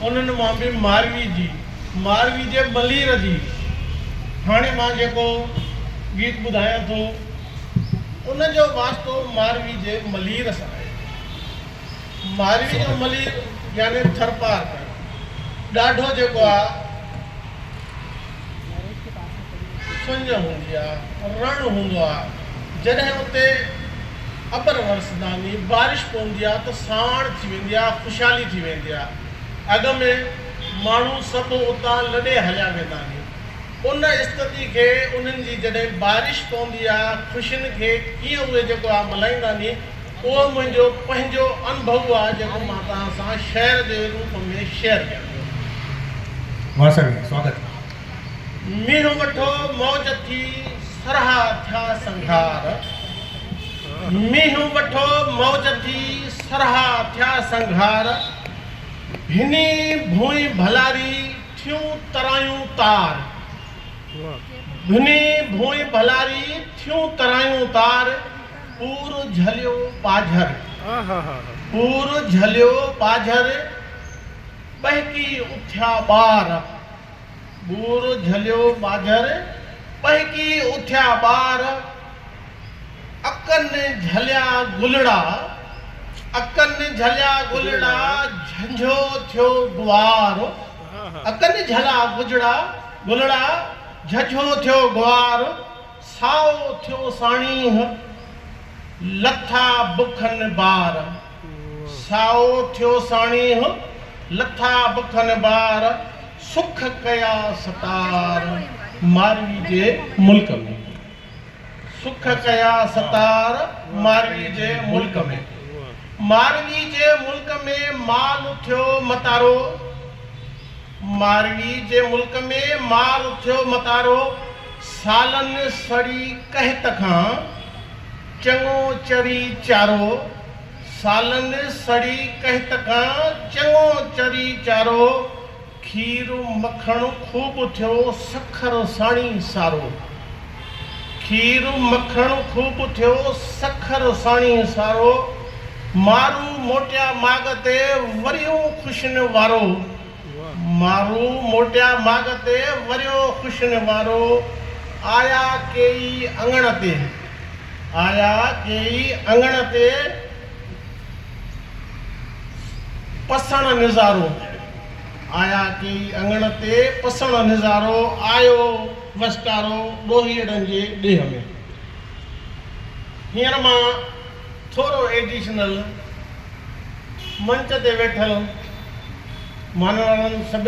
انهن مان به ماروي جي، ماروي جي ملير جي، هاڻي مان جيڪو گيت ٻڌايان ٿو، ان جو واسطو ماروي جي ملير سان آهي. ماروي جو ملير يعني ٿرپارڪر ڏاڍو جيڪو آ، سڃ هوندي آ، رڻ هوندو آ، جڏهن اتي ابر ورس داني، بارش پوندي آ ته سانوڻ ٿي ويندي آ، خوشحالي ٿي ويندي آ. اڳ ۾ ماڻهو سڀ اتان لڏي هليا ويندا آهن. ان استتي کي انهن جي جڏهن بارش پوندي آ، خوشين کي ڪيئن اهي جيڪو آ ملهائيندا آهن، اهو منهنجو پنهنجو انڀؤ آ جيڪو مان توهان سان شعر جي روپ ۾ شيئر ڪيان ٿو. واسڻي، سواگت. مينهن وٺو موج ٿي سرها ٿيا سنگهار مينهن وٺو موج ٿي سرها ٿيا سنگهار هني ڀونء ڀلاري ٿيون ترايون تار هني ڀونء ڀلاري ٿيون ترايون تار پور جهليو ٻاجهر پور جهليو ٻاجهر ٻهڪي اٿيا ٻار. ٻور جهليو ماجهر، ٻهڪي اٿيا ٻار، اکن جهليا گلڙا، اکن جهليا گلڙا، جهنجهو ٿيو گوار، اکن جهلا گجڙا، گلڙا، جهنجهو ٿيو گوار، سائو ٿيو ساڻيهه، لٿا بکن بار. سائو ٿيو ساڻيهه، لٿا بکن بار، سک ڪيا ستار، ماروي جي ملڪ ۾، سک ڪيا ستار، ماروي جي ملڪ ۾، ماروي جي ملڪ ۾، مال ٿيو متارو، ماروي جي ملڪ ۾ مار اٿيو متارو سالن سڙي قحط کان چڱو چري چارو سالن سڙي قحط کان چڱو چري چارو کير مکڻ خوب اٿيو سکر ساڻي سارو کير مکڻ خوب ٿيو، سکر ساڻي سارو. مارو موٽيا ماڳ تي، وريو خوشين وارو. مارو موٽيا ماڳ تي، وريو خوشين وارو. آيا ڪيئي اڱڻ تي، آيا ڪيئي اڱڻ تي، پسڻ نظارو. آيا ڪيئي اڱڻ تي، پسڻ نظارو. آيو. وسڪارو ڏوهيڙن جي ڏيهه ۾. هينئر مان ٿورو ايڊيشنل منچ تي ويٺل مانوارن سڀني